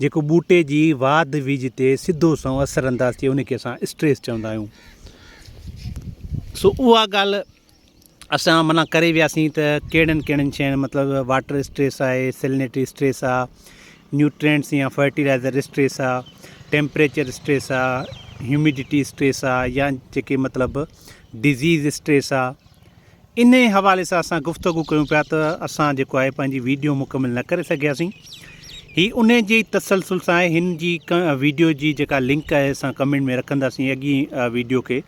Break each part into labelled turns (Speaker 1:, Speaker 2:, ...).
Speaker 1: جيڪو ٻوٽي جي واڌ ويجهه تي سڌو سنئون اثر انداز ٿئي ان کي اسان اسٽريس چوندا آهيون سو اها ڳالهه اسان منا ڪري وياسين ته ڪهڙن ڪهڙن شين مطلب واٽر اسٽريس آهي سيلنيٽري اسٽريس آهي نيوٽرينس يا فرٽيلائزر اسٽريس آهي ٽيمپريچر اسٽريس آهي هيوميڊيٽي اسٽريس آهي يا جيڪي مطلب ڊزيز اسٽريس آهي انهيء حوالي سان اسان گفتگو ڪيون پيا ته اسان جيڪو آهي پنهنجي ويڊيو مڪمل نه ڪري سگهياسين. هي انهيء جي ئي تسلسل سان آهي. هن جي ويڊيو جي جيڪا لنڪ آهي اسان ڪمينٽ ۾ رکنداسين اڳين ويڊيو کي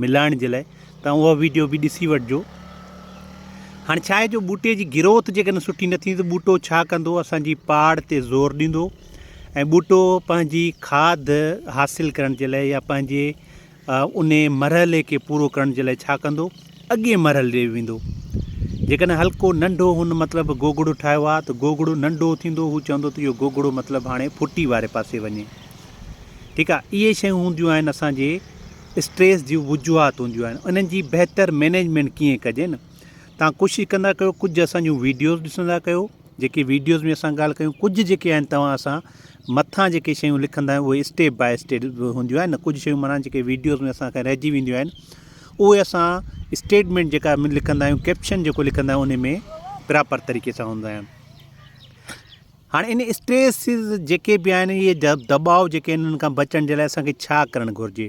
Speaker 1: ملائڻ جي لاء ته اوهان اها ويڊيو به ڏسي وٺجو. هاڻي ڇا آهي جو ٻوٽي جي گروٿ جيڪڏهن سٺي نه ٿيندي ته ٻوٽو ڇا ڪندو اسان جي پاڙ تي زور ڏيندو ۽ ٻوٽو پنهنجي کاڌ حاصل ڪرڻ جي لاء يا پنهنجي انهيء مرحلي کي پورو ڪرڻ جي لاء ڇا ڪندو؟ اڳئين مرحلي ڏي ويندو. جيڪڏهن هلڪو ننڍو هن مطلب گوگڙو ٺاهيو آ ته گوگڙو ننڍو ٿيندو هو چوندو ته اهو گوگڙو مطلب هاڻي ڦٽي واري پاسي وڃي. ٺيڪ آ. اهي شيون هونديون آهن اسان جي اسٽريس جون وجوهات هونديون آهن انهن جي بهتر مينيجمينٽ ڪيئن ڪجي نه تهان ڪوشش ڪندا ڪيو ڪجهه اسان جون ويڊيوز ڏسندا ڪيو. جيڪي ويڊيوز ۾ اسان ڳالھ ڪيون ڪجھ جيڪي آھن توھان اسان مٿان جيڪي شيون لکندا آھيون اھي اسٽيپ باء اسٽيپ ھونديون آھن ڪجھ شيون معنيٰ جيڪي ويڊيوز ۾ اسان کان رھجي وينديون آھن اھي اسان اسٽيٽمنٽ جيڪا لکندا آھيون ڪيپشن جيڪو لکندا آھيون ان ۾ پراپر طريقي سان ھوندا آھن ھاڻي ان اسٽريسز جيڪي بي آھن اھي دٻاء جيڪي آھن انھن کان بچڻ جي لاء اسان کي ڇا ڪرڻ گھرجي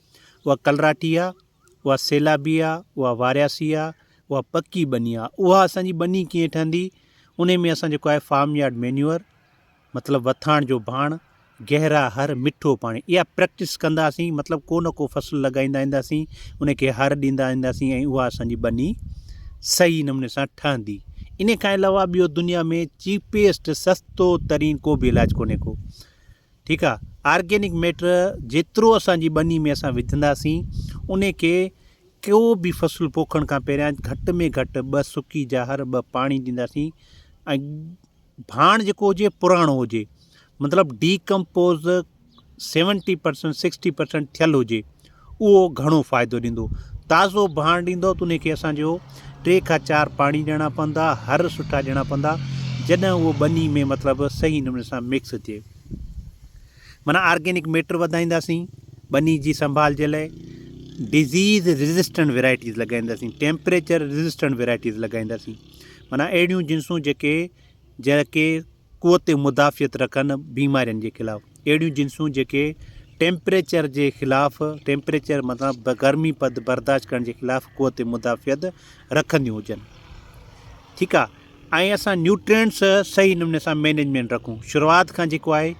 Speaker 1: اها ڪلراٽي آ، اها سيلابي آ، اها وارياسي آ، اها پڪي ٻني آ، اها اسان جي ٻني ڪيئن ٺهندي، انهي ۾ اسان جيڪو آهي فارم يارڊ مينيور مطلب وٿاڻ جو ڀاڻ، گهرا هر، مٺو پاڻي اها پريڪٽس ڪنداسين مطلب ڪو نه ڪو فصل لڳائيندا اينداسين، انهي کي هر ڏيندا اينداسين ۽ اها اسان جي ٻني صحيح نموني سان ٺهندي. انهي کان علاوه ٻيو دنيا ۾ چيپيسٽ سستو ترين ڪو به علاج ڪونهي ڪو ٺيڪ آ آرگينڪ ميٽر جيترو اسان جي ٻني ۾ اسان وجھنداسين ان کي ڪو به فصل پوکڻ کان پهريان گھٽ ۾ گھٽ ٻه سڪي جا هر ٻه پاڻي ڏينداسين ۽ ڀاڻ جيڪو هجي پراڻو هجي مطلب decompose seventy percent sixty percent ٿيل هجي اهو گهڻو فائدو ڏيندو. تازو ڀاڻ ڏيندؤ ته ان کي اسان جو ٽي کان چار پاڻي ڏيڻا پوندا، هر سٺا ڏيڻا پوندا جڏهن اهو ٻني ۾ مطلب صحيح نموني سان مڪس ٿئي. معنيٰ آرگينڪ ميٽر وڌائينداسين ٻني جي سنڀال جي لاء ڊزيز ريزسٽنٽ ويرائٽيز لڳائينداسين، ٽيمپريچر ريزسٽنٽ ويرائٽيز لڳائينداسين معنيٰ اهڙيون جنسون جيڪي جيڪي قوت مدافعت رکن بيمارين جي خلاف اهڙيون جنسون جيڪي ٽيمپريچر جي خلاف ٽيمپريچر مطلب گرمي پد برداشت ڪرڻ جي خلاف قوت مدافعت رکنديون هجن ٺيڪ آ ۽ اسان نيوٽرينٽس صحيح نموني سان مينيجمنٽ رکون شروعات کان جيڪو آهي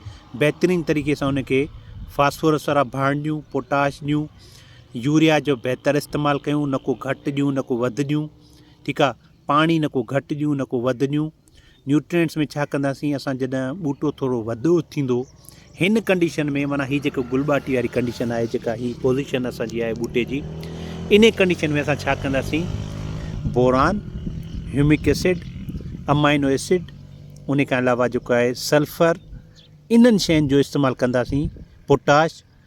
Speaker 1: بهترين طريقي سان ان کي فاسفورس وارا ڀاڻ ڏيون پوٽاش ڏيون يوريا جو بهتر استعمال ڪيون نڪو گهٽ ڏيون نڪو وڌ ڏيون ٺيڪ آ پاڻي نڪو گهٽ ڏيون نڪو وڌ ڏيون نيوٽرينٽس ۾ ڇا ڪنداسين اسان جڏھن ٻوٽو ٿورو وڏو ٿيندو ھن ڪنڊيشن ۾ معنيٰ ھي جيڪو گل ٻاٽي واري ڪنڊيشن آھي جيڪا ھي پوزيشن اسان جي آھي ٻوٽي جي انھي ڪنڊيشن ۾ اسان ڇا ڪنداسين boron humic acid amino acid ان کان علاوه جيڪو آھي سلفر انھن شين جو استعمال ڪنداسين پوٽاش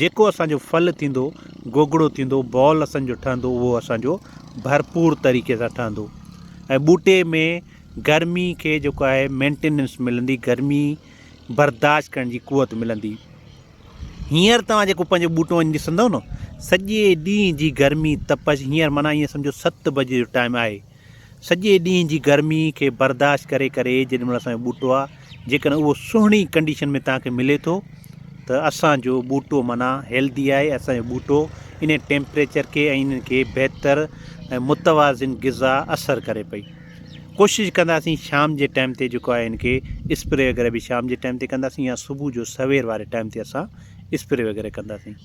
Speaker 1: جيڪو اسان جو ڦل ٿيندو، گوگڙو ٿيندو، بال اسان جو ٺهندو اهو اسان جو ڀرپور طريقي سان ٺهندو ۽ ٻوٽي ۾ گرمي کي جيڪو آهي مينٽيننس ملندي گرمي برداشت ڪرڻ جي قوت ملندي هينئر توهان جيڪو پنهنجو ٻوٽو وڃي ڏسندو نه سڄي ڏينهن جي گرمي تپش هينئر معنيٰ ائين سمجهو ست بجي جو ٽائيم آهي سڄي ڏينهن جي گرمي کي برداشت ڪري ڪري جيڏي مھل اسان جو ٻوٽو آ جيڪڏھن اھو سھڻي ڪنڊيشن ۾ توھان کي ملي ٿو ته اسان جو ٻوٽو معنيٰ ھيلڌي آھي اسان جو ٻوٽو انھي ٽيمپريچر کي ۽ انھن کي بھتر ۽ متوازن غذا اثر ڪري پئي ڪوشش ڪنداسين شام جي ٽائيم تي جيڪو آھي ان کي اسپري وغيره به شام جي ٽائيم تي ڪنداسين يا صبح جو سوير واري ٽائيم تي اسان اسپري وغيره ڪنداسين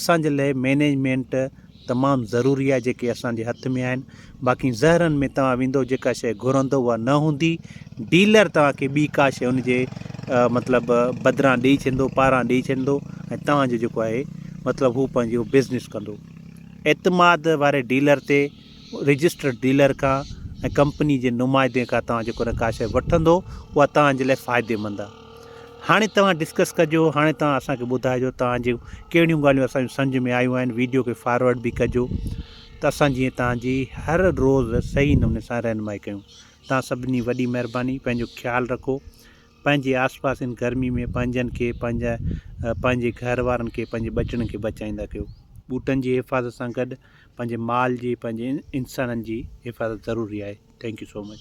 Speaker 1: اسان جي لئه مينيجمينٽ تمام ضروري آهي جيڪي اسان جي هٿ ۾ آهن باقي زهرن ۾ توهان ويندو جيڪا شئي گهرندو اها نه هوندي ڊيلر توهان کي ٻي ڪا شئي ان جي مطلب بدران ڏئي ڇڏندو پاران ڏئي ڇڏندو ۽ توهان جو جيڪو آهي مطلب هو پنهنجو بزنس ڪندو اعتماد واري ڊيلر تي رجسٽرڊ ڊيلر کان ۽ ڪمپني جي نمائندي کان توهان جيڪو ڪا شئي وٺندو اها توهان جي لئه فائدي مند آهي هاڻي توهان ڊسڪس ڪجو هاڻي توهان اسان کي ٻڌائجو توهان جي ڪهڙيون ڳالهيون اسان جون سمجهه ۾ آيون آهن ويڊيو کي فارورڊ به ڪجو ته اسان جيئن توهان جي هر روز صحيح نموني سان رهنمائي ڪيون توهان سڀني وڏي مهرباني پنهنجو خيال رکو پنهنجي آس پاس ان گرمي ۾ پنهنجن کي پنهنجا پنهنجي گهر وارن کي پنهنجي ٻچڙن کي بچائيندا ڪيو ٻوٽن جي حفاظت سان گڏ پنهنجي مال جي پنهنجي انسانن جي حفاظت ضروري آهي ٿينڪ يو سو مچ